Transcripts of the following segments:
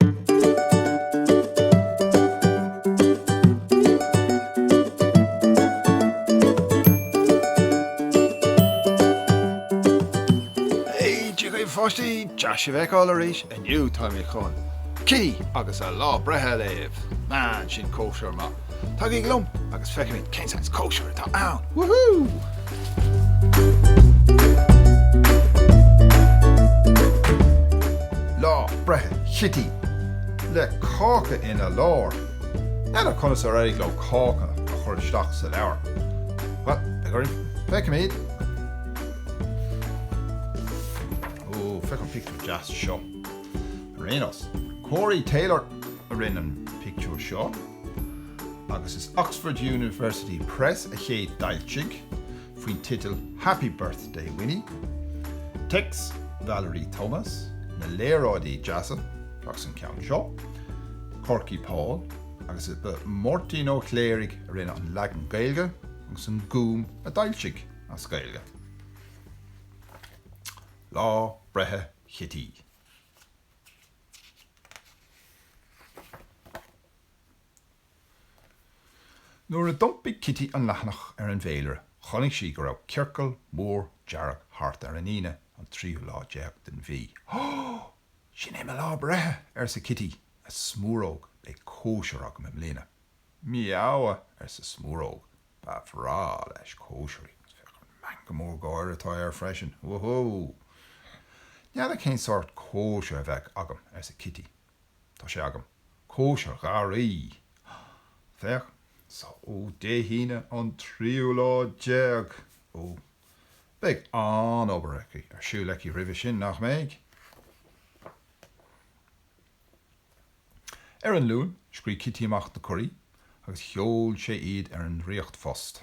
Hey Dia daoibh a pháistí! Deas sibh a fheiceáil arís! Inniu táimid chun Cití agus a lá breithe a léamh. Man, sin cóisir maith! Tagaigí liom agus feicfimid cén saghas cóisir atá ann! Lá breithe Chití le cáca ina lár. N'fheadar conas ar éirigh leo cáca a chur isteach sa leabhar. Bhuel, beidh orainn, feicfimid. Ó, féach an pictiúr deas seo. Ar aon nós, Corey Taylor. a rinne an pictiúr seo agus is Oxford University Press a chéad d'fhoilsigh, faoin teideal Happy Birthday Winnie. Téacs Valerie Thomas na léaráidí deasa agus an ceann seo, Korky Paul, agus is é Máirtín Ó Cléirigh a rinne an leagan Gaeilge agus an Gúm a d'fhoilsigh as Gaeilge. Lá breithe Chití. Nuair a d'iompaigh Cití an leathanach ar an bhféilire, chonaic sí go raibh ciorcal mór dearg thart ar an Aoine, an tríú lá déag den mhí. Ó! Sin é mo lá breithe! arsa Cití, a Smúróg, beidh cóisir agam i mbliana. Miaow! arsa Smúróg. Ba bhreá leis cóisirí agus féach an meangadh mór gáire atá air freisin! Woohoo! N'fheadar cén sórt cóisir a bheidh agam! arsa Cití. Tá sé agam! Cóisir gharraí! Féach! Só, Dé hAoine an tríú lá déag! Ó, beidh an-obair aici ar siúl aici roimhe sin, nach mbeidh? Ar an Luan, scríobh Cití amach na cuirí agus sheol sé iad ar an ndraíocht-phost.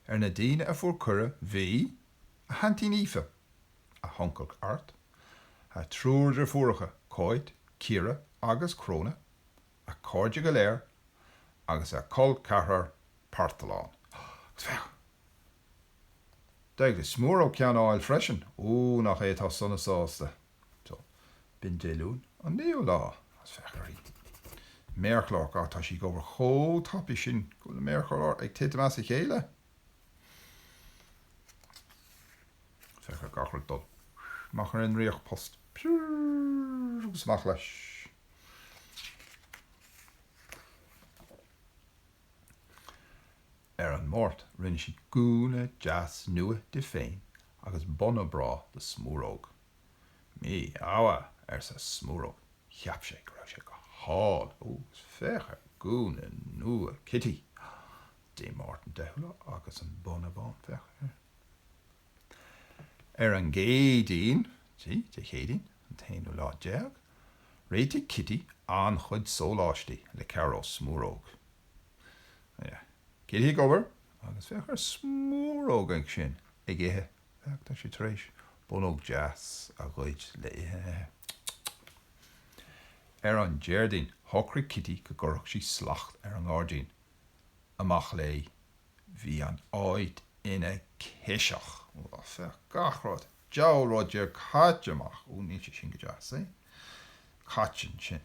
Ar na daoine a fuair cuireadh bhí, a haintín Aoife, a huncail Art, a triúr deirfiúracha Cáit, Ciara agus Cróna, a cairde go léir agus a col ceathrar Parthalán. Agus féach! D'éirigh le Smúróg ceann a fháil freisin! Ó, nach é atá sona sásta! So, b'in Dé Luain an naoú lá is féach uirthi. Méarchlár, ga, Tá sí ag obair chomh tapaidh sin go bhfuil an méarchlár ag titim as a chéile. Féach ar gach rud ag dul amach ar an ndraíocht-phost. Piúr agus amach leis. Ar an Máirt, rinne sí gúna deas nua di féin agus bóna breá do Smúróg. Mí ádha, arsa Smúróg. Cheap sé go raibh sé go hálainn. Ó, féach ar gúna nua Cití. Dé Máirt an deichiú lá agus an bóna bán, féach air. Ar an gCéadaoin, Dé Céadaoin an t-aonú lá déag, réitigh Cití an-chuid sóláistí le cabhair ó Smúróg. Cití ag obair agus féach ar Smúróg ansin ag ithe féach tá sé tar éis bonnóg deas a ghoid le ithe a ithe. Ar an Déardaoin shocraigh Cití go gcuirfeadh sí slacht ar an ngairdín. Amach léi. Bhí an áit ina ciseach. Féach gach rud, deabhal rud déag caite amach. Ó níl sé sin go deas, eh? Cad tá ansin.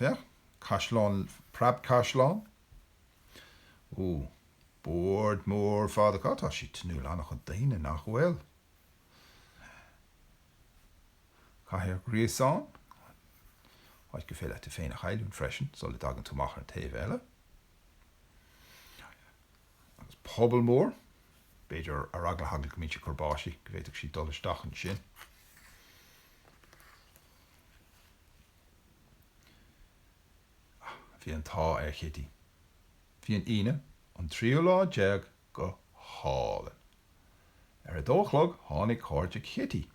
Féach, caisleán, preabchaisleán. Ó, bord mór fada acu, tá siad tnúth le an-chuid daoine, nach bhfuil? Cathair ghríobháin, áit gur féidir leat tú féin a chailliúint freisin sula dtagann tú amach ar an taobh eile. agus puball mór, b'fhéidir ar eagla na heagla go mbíonn sé ag cur báistí, go bhféadfadh siad dul isteach ansin. Bhí an t-ádh ar Chití. Bhí an Aoine, an tríú lá déag go hálainn. Ar a dó a chlog tháinig cairde Chití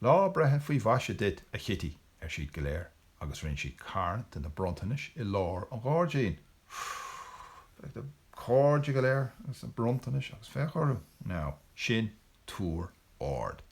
Lá breithe faoi mhaise duit, a Chití! ar siad go léir agus rinne siad carn de na bronntanais i lár an ghairdín. Féach na cairde go léir agus na bronntanais agus féach orthu. Now, sin túr ard.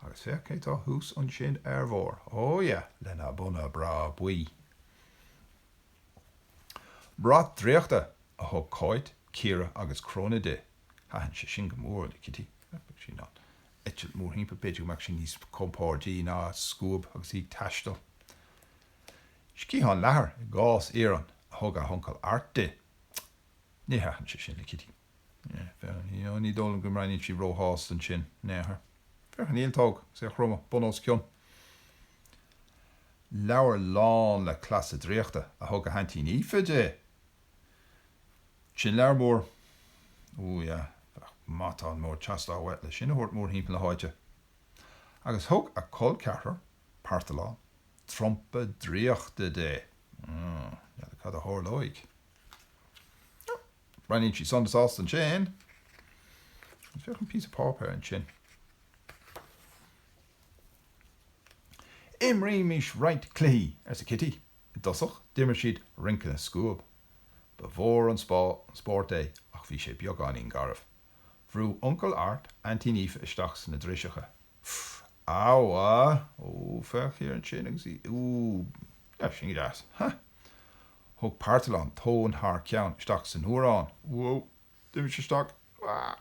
Agus féach cé tá thuas ansin ar bharr. Oh yeah, lena bhóna breá buí. Brat draíochta! a thug Cáit, Ciara agus Cróna di. Thaitin sé sin go mór le Cití. eitilt mórthimpeall, b'fhéidir go mbeadh sí níos compordaí ná scuab agus í ag taisteal. Sciathán leathair i gcás iarainn a thug a huncail Art di. Ní thaitin sé sin le Cití. Ní dóigh liom go mbreathnaíonn sí róshásta ansin. Féach ar an ialtóg agus é a chromadh bun os cionn. Leabhar lán le cleasa draíochta a thug a haintín Aoife di. Sin leabhar mór. Ooh yeah, bheadh matán mór ag teastáil uait le sin a thabhairt mórthimpeall na háite. Agus thug a col ceathrar, Parthalán, trumpa draíochta di. Ooh, n'fheadar cad a tharlóidh. Breathnaíonn sí sona sásta ansin. Agus féach an píosa páipéir ansin. Imrímis roinnt cluichí, arsa Cití. I dtosach d'imir siad rince na scuab. Ba mhór an spórt é ach bhí sé beagáinín garbh. Bhrúdh Uncail Art Aintín Aoife isteach sna driseacha. Pff! Aw a! Ó, féach thiar ansin agus í, ooh, sin go deas. Ha! Thug Parthalán tóin thar ceann isteach san fhuarán. Whoa! D'imigh sé isteach. Aah!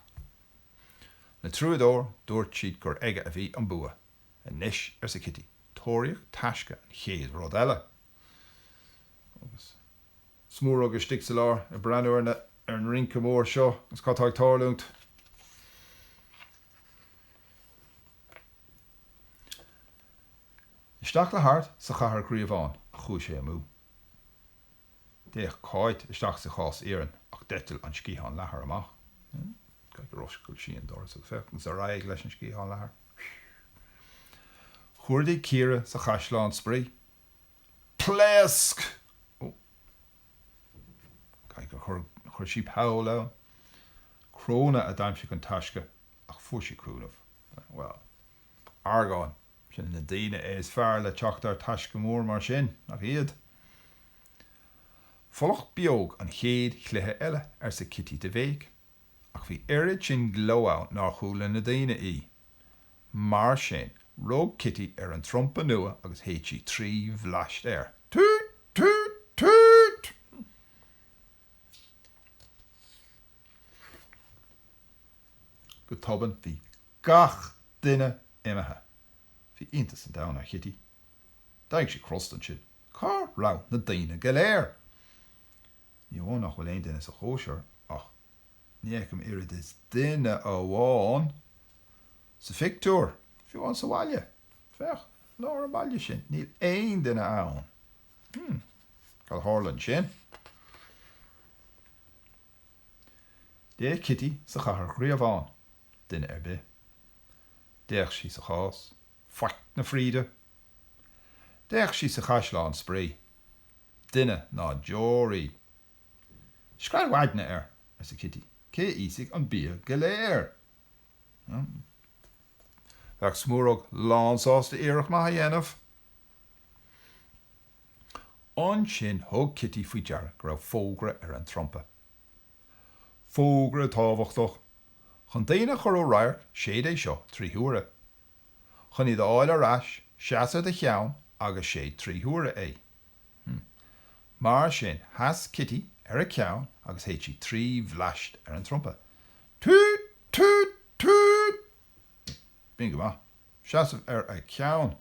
Le trua dó dúirt siad gur aige a bhí an bua. 'Anois, arsa Cití, 'tóraíocht taisce an chéad rud eile. Agus Smúróg istigh sa lár ag breathnú ar na, ar an rince mór seo agus cad atá ag tarlúint. Isteach le hArt sa Chathair Ghríobháin a chuaigh sé amú. D'fhéach Cáit isteach sa chás iarainn ach d'eitil an sciathán leathair amach. Caithfidh gur oscail sí an doras agus féach ansin ar aghaidh leis an sciathán leathair. Chuardaigh Ciara sa chaisleán spraoi. Pléasc! Ó! Caithfidh gur chuir sí poll ann? Cróna a d'aimsigh an taisce ach fuair sí cúnamh. Bhuel. Argáin. Sin na daoine is fearr le teacht ar taisce mór mar sin, nach iad? Folach beag an chéad chluiche eile, arsa Cití de bhéic, ach bhí oiread sin gleo ann nár chuala na daoine í. Mar sin, rug Cití ar an trumpa nua agus shéid sí trí bhleaist air. Toot! Toot! Toot! Go tobann bhí gach duine imithe. Bhí iontas an domhain ar Chití. D'éirigh sí crosta ansin. Cá raibh na daoine go léir? Ní amháin nach bhfuil aon duine sa chóisir ach ní fheicim oiread is duine amháin sa phictiúr, fiú amháin sa bhaile. Féach, i lár an bhaile sin, níl aon duine ann. Hmm. Cad a tharla ansin? D'fhéach Cití sa chathair ghríobháin. Duine ar bith. D'fhéach sí sa chás. Faic na fríde. D'fhéach sí sa chaisleán spraoi. Duine ná deoraí. Scread mhaidne air! arsa Cití. Cé a íosfaidh an bia go léir? Bheadh Smúróg lánsásta iarracht maith a dhéanamh. Ansin thug Cití faoi deara go raibh fógra ar an trumpa. Fógra tábhachtach. chun daoine a chur ó radharc séid é seo trí huaire. Chun iad a fháil ar ais, seas ar do cheann agus séid trí huaire é. Hmm. Mar sin, sheas Cití ar a ceann agus shéid sí trí bhleaist ar an trumpa. Tút! Tút! Tút! B'in go maith. Seasamh ar a ceann.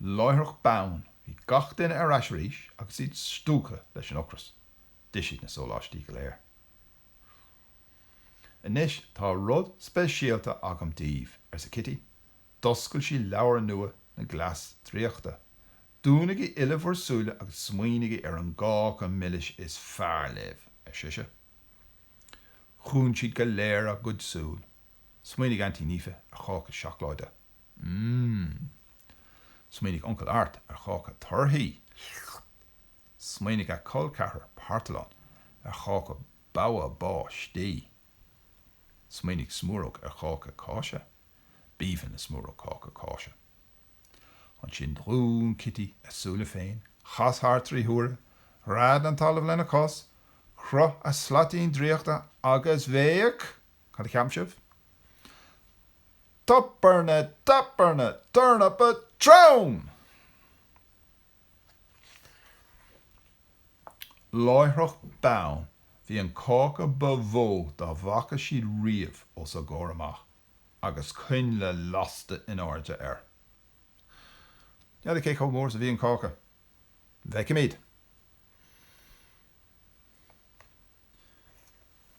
Láithreach bonn bhí gach duine ar ais arís agus iad stiúgtha leis an ocras. D'ith siad na sóláistí go léir. Anois tá rud speisialta agam daoibh, arsa Cití. D'oscail sí leabhar nua na gcleas draíochta. Dúnaigí uile bhur súile agus smaoinigí ar an gcáca milis is fearr libh, ar sise. Dhún siad go léir a gcuid súl. Smaoinigh Aintín Aoife ar cháca seacláide. mm. Smaoinigh Uncail Art ar cháca torthaí. Smaoinigh a col ceathrar Parthalán ar cháca bogha báistí. Smaoinigh Smúróg ar cháca cáise. B'aoibhinn le Smúróg cáca cáise. Ansin dhún Cití a súile féin, chas thart trí huaire, ghread an talamh lena cos, chroith a slaitín draíochta agus bhéic. Cad a cheapann sibh? Toberna, toberna, turnapa, trom! Láithreach bonn bhí an cáca ba mhó dá bhfaca siad riamh os a gcomhair amach agus coinnle lasta in airde air. N'fheadar cé chomh mór is a bhí an cáca. An bhfeicfimid?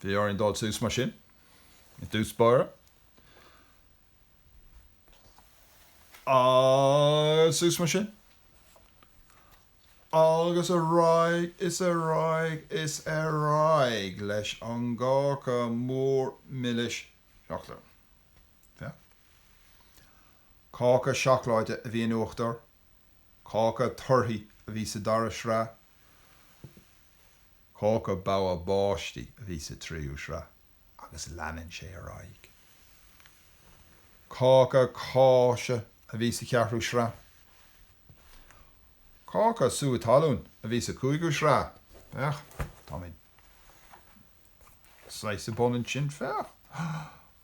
Bhí orainn dul suas mar sin, i dtús báire, agus suas mar sin, agus ar aghaidh is ar aghaidh is ar aghaidh leis an gcáca mór milis. Féach air. Cáca seacláide a bhí in uachtar, cáca torthaí a bhí sa dara sraith, Cáca Bogha Báistí a bhí sa tríú sraith agus leanann sé ar aghaidh. Cáca Cáise a bhí sa cheathrú sraith. Cáca Sú Talún a bhí sa cúigiú sraith. Féach, tá mé saghas bun ansin, féach.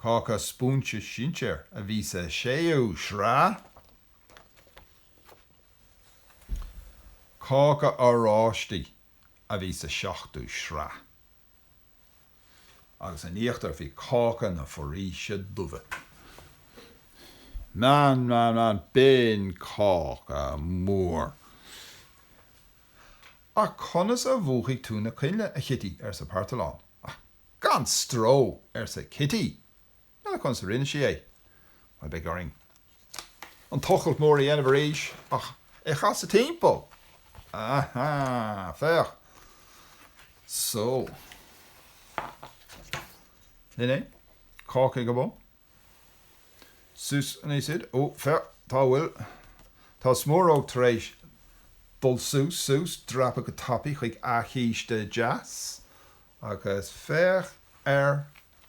Cáca Spúinse Sinséir a bhí sa séú sraith. Cáca Oráistí a bhí sa seachtú sraith agus in íochtar bhí cáca na foraoise dubha. Man, man, man, b'in cáca mór. Ach conas a mhúchfaidh tú na coinnle, a Chití? arsa Parthalán. Ach gan stró! arsa Cití Conas a rinne sí é? Bhuel, beidh orainn an tochailt mhór a dhéanamh arís ach é a chasadh timpeall. Aha! Féach! So. Sin é? Cáca ag an mbun? Suas an easóid. Ó, féach, cá bhfuil. Tá Smúróg tar éis dul suas, suas, dreapadh go tapaidh chuig a císte deas. Agus féach ar.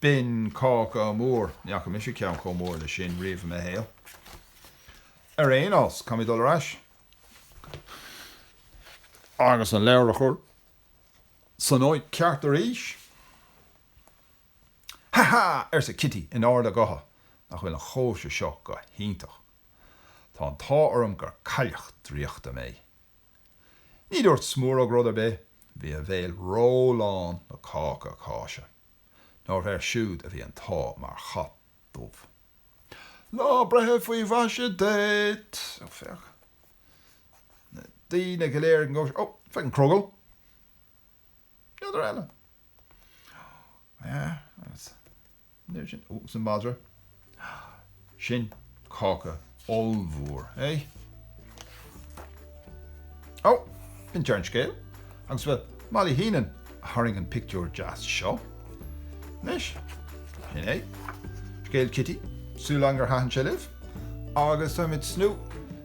B'in cáca mór. Ní fhaca mise ceann chomh mór leis sin riamh i mo shaol. Ar aon nós, caithfidh mé dul ar ais agus an leabhar a chur san áit cheart arís. Ha ha! arsa Cití in ard a gutha. Nach bhfuil an chóisir seo go hiontach. Tá an t-ádh orm gur cailleach draíochta mé. Ní dúirt Smúróg rud ar bith. Bhí a bhéal ró-lán le cáca cáise. Nár air siúd a bhí an t-ádh mar chat dubh. Lá breithe faoi mhaise duit! Ó, féach. Na daoine go léir ag an gcóisir. Ó, féach an crogall. N'fheadar eile. Ó, yeah, agus. An oiread sin. Ó, agus an madra. Sin cáca ollmhór, é? Ó, b'in deireadh an scéil, agus bhuel, Molly Heenan a tharraing an pictiúr deas seo. Anois, sin é, scéal Cití, súil agam gur thaitin sé libh, agus táimid sna.